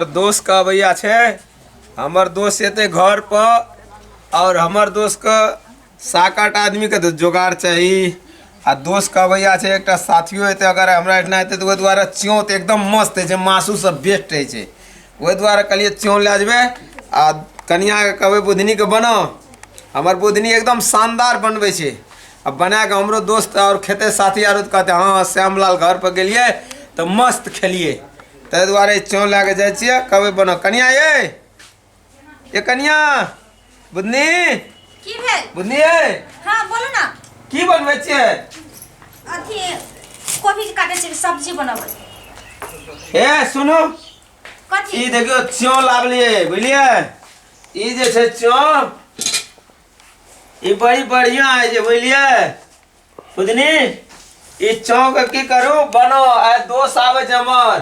दोस्त के अबैया छै हमर दोस्त एते घर पर और हमर दोस्त के सात आठ आदमी के जोगाड़ चाही आ दोस्त के अबैया छै एकटा साथियो एते अगर हमरा एठना एते तो द्वारा च्यों तो एकदम मस्त है मासू सब बेस्ट है छै ओहि द्वारा कहलिए च्यों ले जबे आ कनिया के कहबे बुधनी के बनो हमर बुधनी एकदम शानदार बनबे छै आ बना के हमरो दोस्त और खेते साथी आरो कहते हाँ श्यामलाल घर पर गलिए तो मस्त खेलिए ताहि दुआरे चौं लए कऽ जाइ छियै कहबै बनो कनिया ये ये कनिया बुधनी की भेल बुधनी ये हाँ बोलू ना की बनबै छियै अथी कोबी के काटे छै सब्जी बनाबै ए सुनू कथी ई देखियो चौं लावलिए बुझलिए ई जे छै चौं ई बड़ी बढ़िया है जे बुझलिए बुझनी ई चौक की करू बनो आ दोस्त आवे छै हमर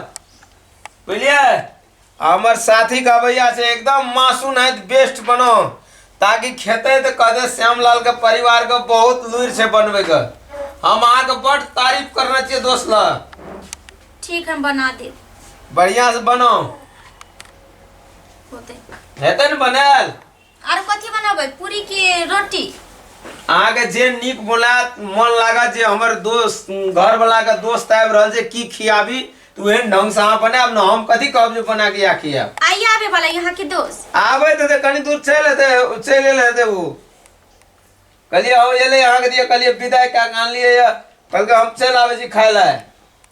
बुझलिए हमर साथी के अबैया से एकदम मासून है बेस्ट बनो ताकि खेते तो कहते श्यामलाल के परिवार के बहुत लूर से बनबे के हम अहाँ के बड़ तारीफ करना चाहिए दोस्त ला ठीक हम बना दे बढ़िया से बनो होते हेतै ने बनायल आर कथी बनाबै पूरी की रोटी अहाँके जे नीक बोला मन लागत जे हमर दोस्त घर वाला के दोस्त आबि रहल छै की खियाबी तऽ ओहन ढंग से अहाँ बनायब ने हम कथी कहब जे बना के या खियाब आइए आबे वाला यहाँ के दोस्त आबे तऽ कनी दूर चलि हेतै चलि एल हेतै ओ कहलियै हम एलै अहाँके दिया कहलियै विदाइ कए कऽ आनलियै यऽ कहलकै हम चलि आबै छी खाय लए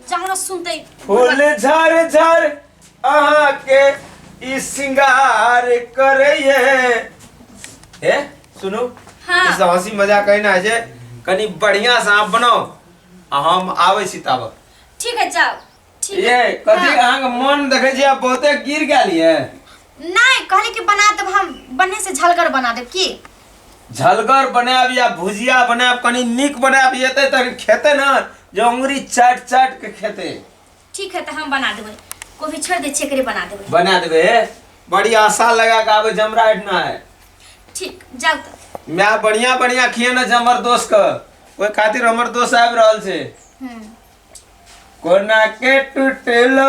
जहाँ सुनते फूल झर झर अहाँ के ई सिंगार करैये हे सुनू हाँ। ई सब हंसी मजाक कहना है जे कनी बढ़िया से आप बनाओ आ हम आबै छी ताबक ठीक है जाओ ठीक ये है कथी अहाँके मन देखै छी आब बहुते गिर गेल ये नहीं कहले कि बना देब हम बने से झलगर बना देब की झलगर बनाब या भुजिया बनाब कनी नीक बनाब येते त खेते ना जे अंगुरी चाट चाट के खेते ठीक है तो हम बना देबे कोभी छोड़ दे छेकरे बना देबे बना देबे बड़ी आशा लगा के आबे जमराट ना है ठीक जाओ तो मैं बढ़िया बढ़िया खिए ना जमर दोस्त क ओए खातिर हमर दोस्त आबि रहल छै हम्म कोना के टूटलो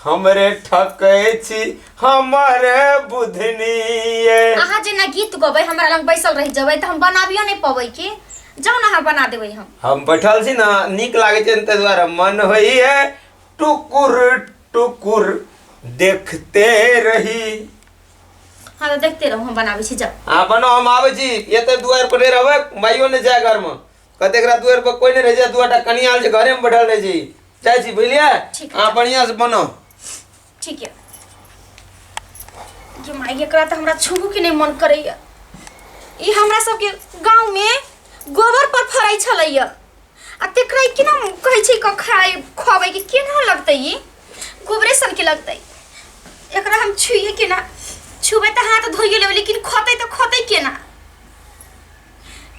हमरे ठकै छी हमरे बुधनी ये अहाँ जेना गीत गबै हमरा लग बैसल रहि जेबै तऽ हम बनाबियो नहि पबै की जाउ ने अहाँ बना देबै हम हम बैठल छी ने नीक लागै छै ताहि दुआरे मन होइ है टुकुर टुकुर देखते रही हँ तऽ देखते रहू हम बनाबै छी जाउ अहाँ बनाउ हम आबै छी एतै दुआर पर नहि रहबै माइयो नहि जाय घरमे कतेक रात दुआर पर कोइ नहि रहै छै दुआटा कनिया आयल छै घरेमे बैठल रहै छी चाय छी बुझलिए ठीक है। अहाँ बढ़िया से बनाओ ठीक है जो माई एकरा त हमरा छुबू के नहीं मन करैया ई हमरा सबके गांव में गोबर पर फराई छलैया आ तेकरा के ना कहै छै क खाए खुआबै के केना लगतै ई गोबरे सन के लगतै एकरा हम छुइए केना छुबै त हाथ धोइए लेबै लेकिन खतै त खतै केना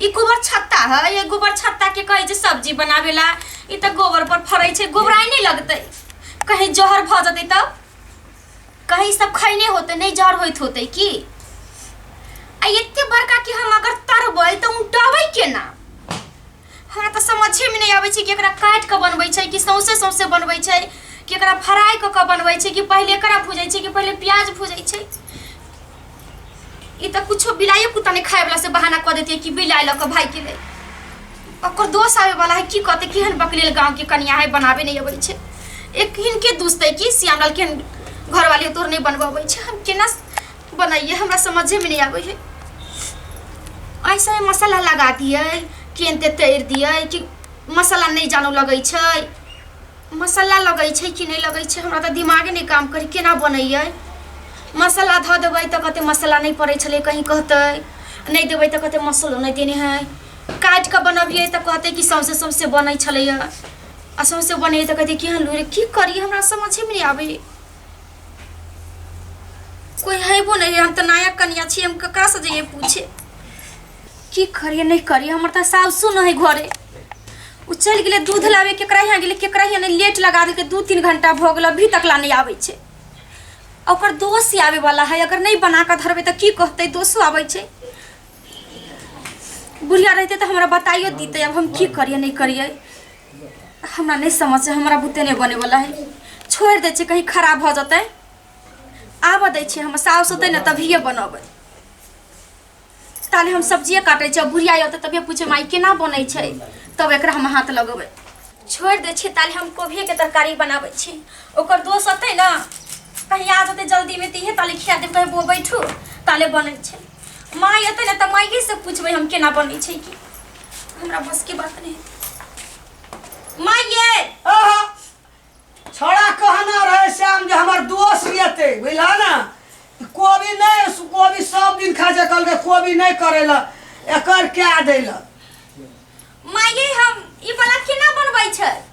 ई गोबर छत्ता है ये गोबर छत्ता के कहे जे सब्जी बनावेला ई त गोबर पर फरै छै गोबराई नहीं लगते कहीं जहर भ जते तब कहीं सब खैने होते नहीं जहर होइत होते की आ एते बड़का कि हम अगर तरबै त उठबै केना हमरा तऽ समझेमे नहि अबै छै कि एकरा काटि कऽ बनबै छै कि सौंसे सौंसे बनबै छै कि एकरा फ्राई कऽ कऽ बनबै छै कि पहिले एकरा भूजै छै कि पहिले प्याज भूजै छै ई तऽ कुछो बिलाइए कुत्ता नहि खायवला से बहाना कऽ देतियै कि बिलाइ लऽ कऽ भागि गेलै ओकर दोष आबैवला है की कहतै केहन बकलेल गाँवके कनिया है बनाबे नहि अबै छै एक हिनके दुसतै कि श्यामलाल केहन घरवाली तोर नहि बनबऽ अबै छै हम केना बनाइए हमरा समझे में नहीं आवे है ऐसा ही मसाला लगा दिए कि एनते तैर दिए कि मसाला नहीं जानो लगे छै मसाला लगे छै कि नहीं लगे छै हमरा तो दिमागे नहीं काम करी केना बनैयै मसाला धऽ देबै तऽ कहते मसाला नहीं पड़े छलै कहीं कहते नहीं देबै तऽ कहते मसालो नहीं देने है काटि कऽ बनबियै तऽ कहते कि सौंसे सौंसे बनै छलैए आ सौंसे बनैए तऽ कहते कि हँ लूरे की करी हमरा समझे में नहीं आवे कोई हेबो नहीं हम तो नया कनिया छी हम ककरा से जाइए पूछे की करिए नहीं करिए हमर तो सासु नहीं घरे उ चल गेले दूध लावे केकरा यहाँ गेले केकरा यहाँ नहीं लेट लगा देलके दू तीन घंटा भऽ गेल अभी तक ला नहीं आबै छै आ ओकर दोस्त ही आवे वाला है अगर नहीं बना के धरबे तो की कहते दोसो आबै छै बुढ़िया रहते तो हमरा बताइयो दीते अब हम की करिए नहीं करिए हमरा नहीं समझ छै हमरा बुते नहीं बने वाला है छोड़ दे छै कहीं खराब भ जते आबऽ दै छै हम साउस होतै ने तभिए बनबै ताले हम सब्जिए काटै छियै बुढ़िया होतै तभिए पूछे माई केना बनै छै तब एकरा हम हाथ लगबै छोड़ दे छै ताले हम कोबिये के तरकारी बनाबै छी ओकर दोस्त होतै ने कहीं आ जते जल्दी में तीहे ताले खिया देब कहीं बो बैठू ताले बनै छै माई होतै ने तऽ माइए से पूछबै हम केना बनै छै की हमरा बस के बात नहीं माँ ये आहा, छोड़ा कहना रहे श्याम जे हमर दोस्त रहते बुझला ना ई कोबी नहीं सु- कोबी सब दिन खा जा कल के कोबी नहीं करेला एकर क्या देला माँ ये हम ई वाला केना बनबै छै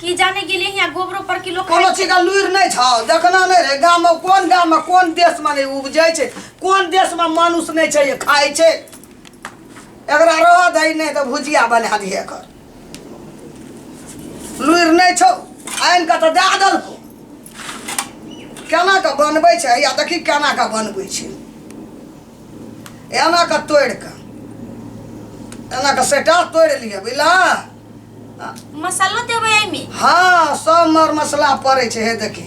की जाने गेले यहाँ गोबरो पर किलो कोनो खाइ चीज का लुरि नहि छ देखना नहि रे गाममे कोन गाममे कोन देशमे नहि उपजै छै कोन देशमे मानुस नहि छै जे खाइ छै एकरा रह दै नहि तऽ भुजिया बना दिहे एकर लुरि नहि छौ आनि कऽ तऽ दए देलको केना कऽ बनबै छै या देखी केना कऽ बनबै छै एना कऽ तोड़ि कऽ एना कऽ सेटा तोड़ि लिअ बुझलह मसालो देबै एहिमे हाँ सब मर मसला पड़ै छै हे देखी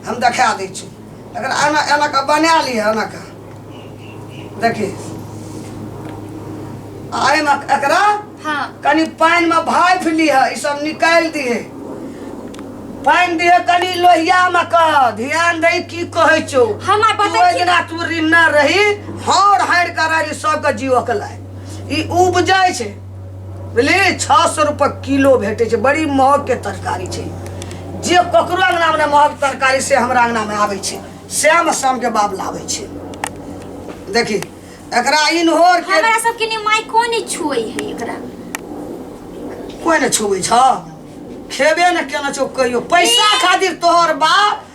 हम देखा दै छी लेकिन एना एना के बना ली एना के देखी आ एहिमे एकरा हाँ कनि पानि में भाइफ लिह ई सब निकालि दिहे पानि दिहे कनि लोहिया में कह ध्यान दही की कहै छौ हम आइ तू बतै ओहि छी दिना तू रिन्ना रही हौर हारि कर रही सबके जीवक लाय ई उपजै छै बुझलियै छओ सए रुपये किलो भेटै छै बड़ी महगके तरकारी छै जे ककरो अङ्गनामे नहि महग तरकारी से हमरा अङ्गनामे आबै छै श्याम शामके बाप लाबै छै देखी एकरा इनहोर के हमरा सबके ने माय कोन ही छुए है एकरा कोई ने छुबै छ खेबे ने केना छौ कहियो पैसा खातिर तोहर बाप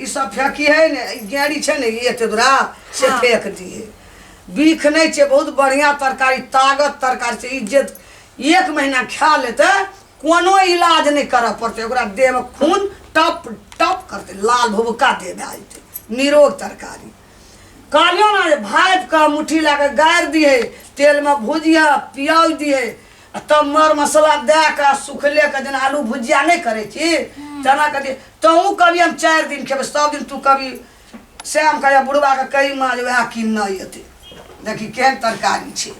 ई सब फेंकी है ने ई गेड़ी छै ने ई एते दूरा से हाँ। फेंक दिए बीख नहीं छै बहुत बढ़िया तरकारी ताकत तरकारी छै ई जे एक महीना खा लेते कोनो इलाज नहीं करऽ पड़ते ओकरा देह में खून टप टप करते लाल भुबका दे दे जेतै। निरोग तरकारी कहलियो ना जे भापि कऽ मुट्ठी लए कऽ गाड़ि दिहे तेलमे भुजिया प्याज दिहे आ तब मर मसाला दए कऽ आ सुखले के जेना आलू भुजिया नहि करै छी तेना कथी तहूँ कभी हम चारि दिन खेबै सब दिन तू कभी श्याम कहैया बुढ़बा के कही माँ जे वएह किन नहि एतै देखी केहन तरकारी छै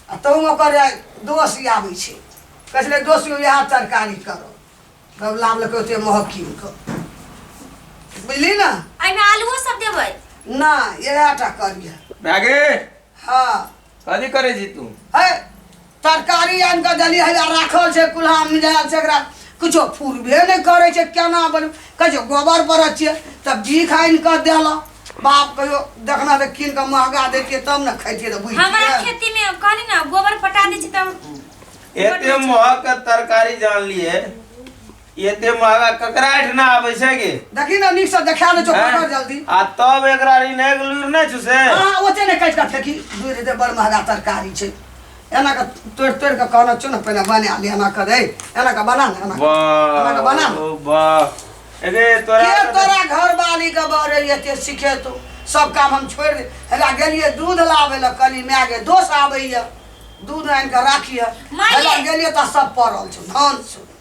आ तहूँ ओकर दोष आबै छै कहै छलै दोष इएह तरकारी करो तब लाबलकै ओते महग कीन कऽ बुझली ने एहिमे आलूओ सब देबै नहि इएह टा करिए भए गेल हँ कथी करे छी तू है तरकारी आनि कऽ देली है आ राखल छै कुल्हा मिलायल छै एकरा किछो फुरबे नहि करै छै केना बन कहै छै गोबर पर छियै तऽ बीख आनि कऽ देलक बाप कहियो देखना तऽ कीन कऽ महगा देतियै तब ने खैतियै तऽ हमरा बुझितियै खेती में कहली ना गोबर पटा दी छी तब एते महक के तरकारी जान लिए एते महंगा ककरा आठ ना आवे छै गे देखी ना नीक से देखा ले चोखा हैं? कर जल्दी आ तब एकरा री नै लुर नै छु से हाँ ओते ने काटि कऽ फेंकी दूर हेतै बड़ महगा तरकारी छै एना कऽ तोड़ि तोड़ि कऽ कहना चो ने पहिने बना ले एना कऽ रे एना कऽ बना ने एना कऽ। एना कऽ बना वाह ओ वाह एगे तोरा के तोरा घर वाली के बरे एते सीखे तू सब काम हम छोड़ि दे हेला गेलिए दूध लाबे लए कनी माय गे दोष आबैए दूध आनि कऽ राखिए माये! हेला गेलिए तऽ सब पड़ल छौ धान छौ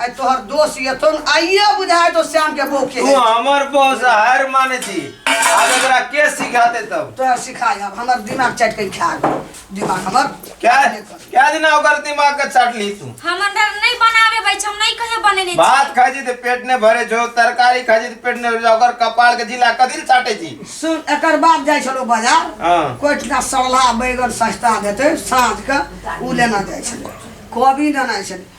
आई तोहर दोष ये तो आइए बुझाए तो श्याम के बो के तू हमर बॉस हर माने थी आज एकरा के सिखा दे तब तो सिखाए अब हमर दिमाग चट के खा गए दिमाग हमर क्या क्या दिन ओकर दिमाग का चाट ली तू हम अंडर नहीं बनावे भाई हम नहीं कहे बने नहीं भात खा जी पेट ने भरे जो तरकारी खा जी पेट ने भरे ओकर कपाल के जिला कदिल चाटे जी सुन एकर बाप जाय छलो बाजार हां कोठना सड़ला बैगन सस्ता देते साँझ के उ लेना जाय छलो कोबी लेना छलो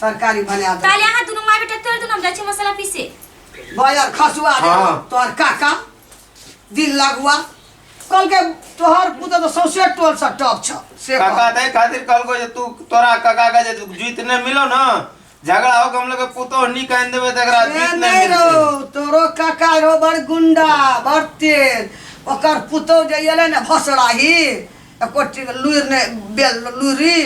तरकारी बना दे ताले अहाँ दुनू माय बेटा तोड़ दुनू हम जाइ छी मसाला पीसे बजर खसुआ दे हाँ। तोहर काका दिल लगुआ कल के तोहर पुत्र तो सौसे टोल से टॉप छ से कह। काका तय खातिर कहलको जे तू तोरा काका का जे जीत नहीं मिलो ना झगड़ा हो के हम लोग के पुतो नहीं कहन देबे त एकरा ए, जीत नहीं नहीं मिलते रो तोरो काका रो बड़ गुंडा बड़ तेज ओकर पुतौ जे एलै ने भसड़ाही एको टी- लुरि ने बेल लुरी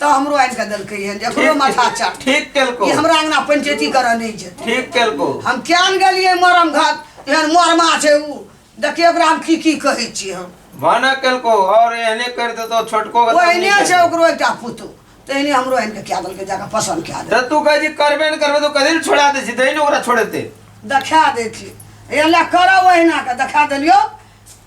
तऽ हमरो आनि कऽ देलकै हन जे एकरो माथा चाट ठीक केलको ई हमरा अंगना पंचैती करऽ नहि जेतै ठीक केलको हम कियान गेलियै मरम घात एहन मरमा छै ऊ देखियै ओकरा हम की की कहै छी हम भाना केलको और एहने कर दे तो छोटको के ओहिने तब छै नहीं ओकरो एकटा पुतहु तहिने हमरो आनि कऽ कए देलकै जाकऽ पसन्द कए करते। देलकै तो तू कहे जी करबे न करबे तो कदिल छोड़ा दे छी दही ने ओकरा छोड़े दे देखा दै छी एहि लए करऽ ओहिना कऽ देखा देलियौ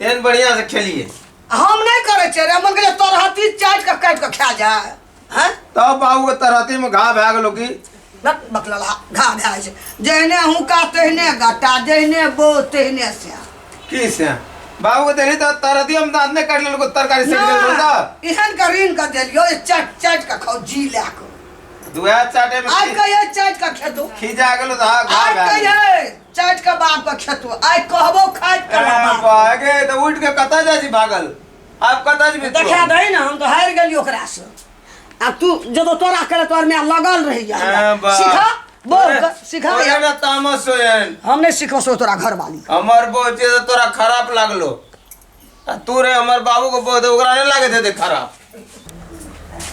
एहन बढ़िया से खेलिए हम नहीं करे छे रे मन के तोर हाथी चाट के काट के खा जा हैं तब बाबू के तरहती में घा भए गेलो की नट बकलला घा भए छै जहने हुका तहने गटा जहने बो तहने से की से बाबू के देली तो तरहती हम दांत ने काट लेलको तरकारी से गेल रहो सब इहन के ऋण कर देलियो ये चाट चाट के खाओ जी ला के दुआ चाटे में आज खी- कहिए चाट के खेतो खीजा गेलो तो घा आज भए गेलो। कहिए चाटि के बाप के खेतो आइ कहबो खाइत के ए, बाप बागे त उठ के कतऽ जाइ छी भागल आब कतऽ जेबी तू? देखा दही ने हम तो हारि गेली ओकरा से आ तू जब तोरा करे तोर में लगल रही जा ए, बा। सिखा बोल अरे, क- सिखा अरे हमरा तामस होयन हम नहीं सिखो सो तोरा घर वाली हमर बोचे त तोरा खराब लागलो आ तू रे हमर बाबू को बोल दे ओकरा नहीं लागे दे दे खराब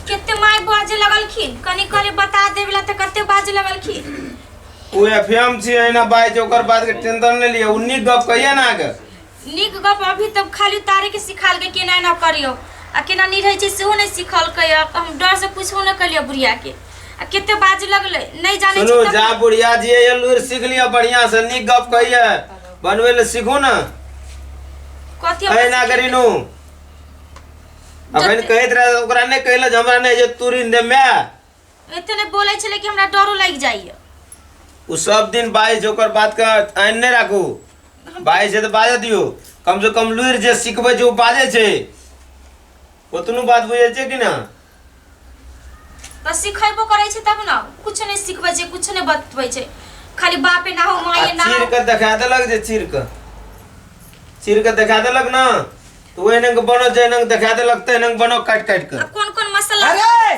कितने माय बाजे लगलखिन कनी कनी बता देवेला त कते बाजे लगलखिन उ एफएम छी है ना बाई जो ओकर बात के टेंशन नहीं लिए उन्नी गप कहिए ना के नीक गप अभी तब खाली उतारे के सिखाल के केना ना करियो आ केना नहीं रहे छै सेहो नहीं सिखल के हम डर से कुछ ना कलियो बुढ़िया के आ कते बाजे लगले नहीं जाने सुनो छी जा तब- बुढ़िया जी ये लूर सीख लिया बढ़िया से नी गप कहिए बनवे ले सीखू ना कथी कहे ना करी नु अपन कहत रहे ओकरा ने कहला जे हमरा ने जे तुरिन दे मैं इतने बोले छले कि हमरा डरो लग जाइए उ सब दिन बाई जोकर बात का आइन ने राखू बाई से तो बाजे दियो कम से कम लुर जे सिखबे जे उ बाजे छे ओतनो बात बुझै छै कि ना तऽ सिखेबो करै छै तब ने कुछ नहि सिखबै छै कुछ नहि बतबै छै खाली बापे ना हो आ माये ना चीर हो के देखा देलक जे चीर के चीर के देखा देलक ना तो ओहने के बनो जहने के देखा देलक तहने के बनो काट काट के अब कोन कोन मसाला अरे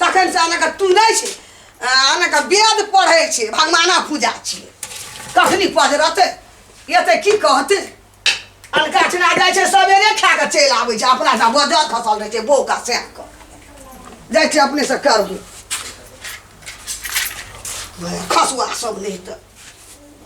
तखन से अहाँके तुनै छै अहाँके वेद पढ़ै छै भगवाना पूजा छियै कखनी पजरतै एतै की कहतै अलका चना जाइ छै सबेरे खा कऽ चलि आबै छै अपना सँ बजल खसल रहै छै बौका सएह कऽ जाइ छै अपने से करबू खसुआ सब नहि तऽ